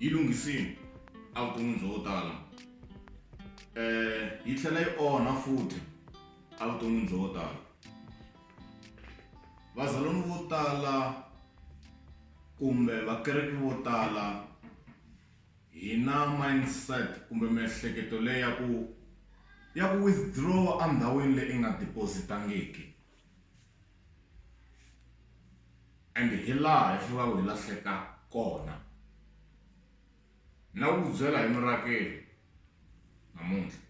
yi lunghisile a ku vutomi byo tala yi tlhela yi onha futhi a vuton'wini byo tala vazalwana vo tala kumbe vakreste vo tala hi na mindset kumbe miehleketo leyi ya ku ya ku withdraw endhawini leyi nga deposit-angiki. ende hi laha hi fanelaka hi lahleka kona na ku byela hi mirakeli namuntlha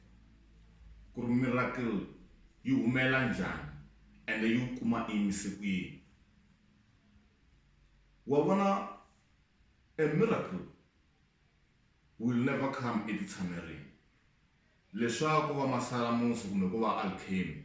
ku ri mirakeli yi humela njhani ende yi wu kuma imise ku yini wa vona a miracle will never come eku tshamerini leswaku va masalamusi kumbe ku va alchemy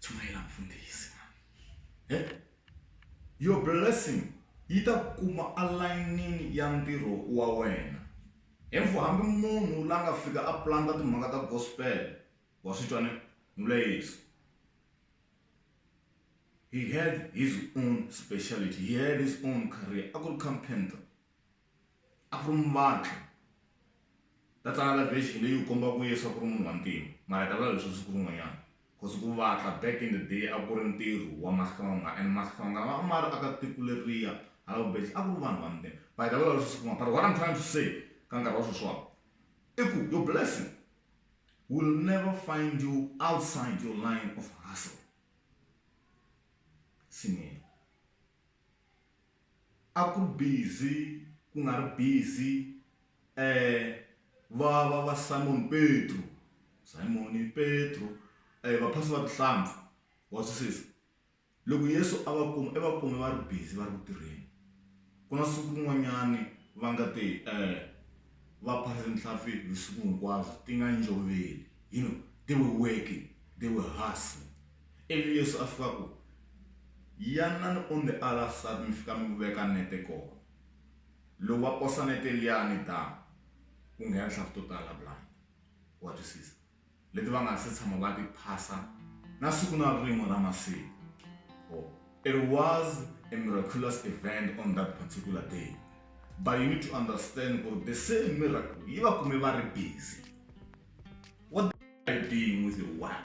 Chumayela mfundhisi mani. He? Your blessing yi ta ku kuma alayinini ya ntirho wa wena. Info hambi munhu la nga fika a planta timhaka ta gospel wa swi twa ni vula Yesu. He had his own speciality, he had his own career a ku ri carpenter. A ku ri muvabyi. Ta tsala la version leyi u komba ku Yesu a ku ri munhu wa ntima, mara hi ta vulavula hi sweswo siku rin'wanyana. Cause ku vatla back in the day a ku ri ntirho wa mahlonga and mahlonga a ma ri aka tiko leriya hala vubeja a ku ri vanhu va ntima. But hi ta vulavula hi sweswo siku rin'wana. But what I'm trying to say ka nkarhi wa sweswiwani i ku your blessing will never find you outside your line of hustle. Nsimu yena. A ku ri busy ku nga ri busy ehh va va va Simon Petru, Simon Petru ehh va phasa va tihlampfi wa twisisa loko Yesu a va kuma i va kume va ri busy va ri ku tirheni ku na siku rin'wanyani va nga te ehh va phasa tinhlampfi vusiku hinkwabyo ti nga njhoveli you know they were working they were hustling Ivi Yesu a fika ku, Yanani on the other side mi fika mi veka nete kona. Loko va posa nete liya ni damu, ku nghena tihlampfi to tala blind. Wa twisisa? Leti va nga ha si tshama va ti phasa na siku na rin'we ra masiku. Oh, it was a miraculous event on that particular day. But you need to understand ku ri the same miracle yi va kume va ri busy. What are you doing with your work?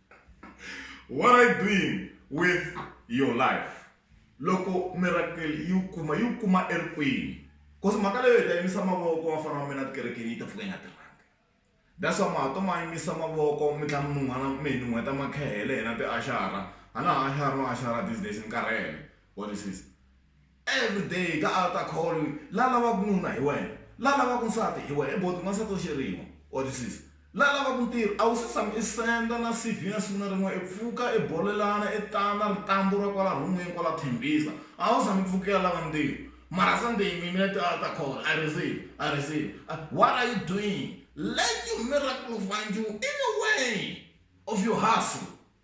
what are you doing with your life loko miracle yi wu kuma yi wu kuma erikwini cause mhaka leyo hi ta yimisa mavoko wa fana wa mina tikerekeni yi ta pfuka yi nga tirhangi that's why mahato ma yimisa mavoko mi tlhela mi nun'hwana mi hi nun'hweta makhehele hina tiaxara a na ha axari no axara these days ni karhele what is this. Everyday ka alter call la lavaku nuna hi wena la lavaku nsati hi wena boti n'wansati wa xirimo wa twisisa la lavaku ntirho a wu se tshama i senda na CV na siku na rin'we i pfuka i bolelana i tana ritambu ra kwala rhumwini kwala Tembisa a wu tshama i pfukela lava ntirho mara Sunday mi yimile ti alter call I receive I receive what are you doing let your miracle find you anyway of your hustle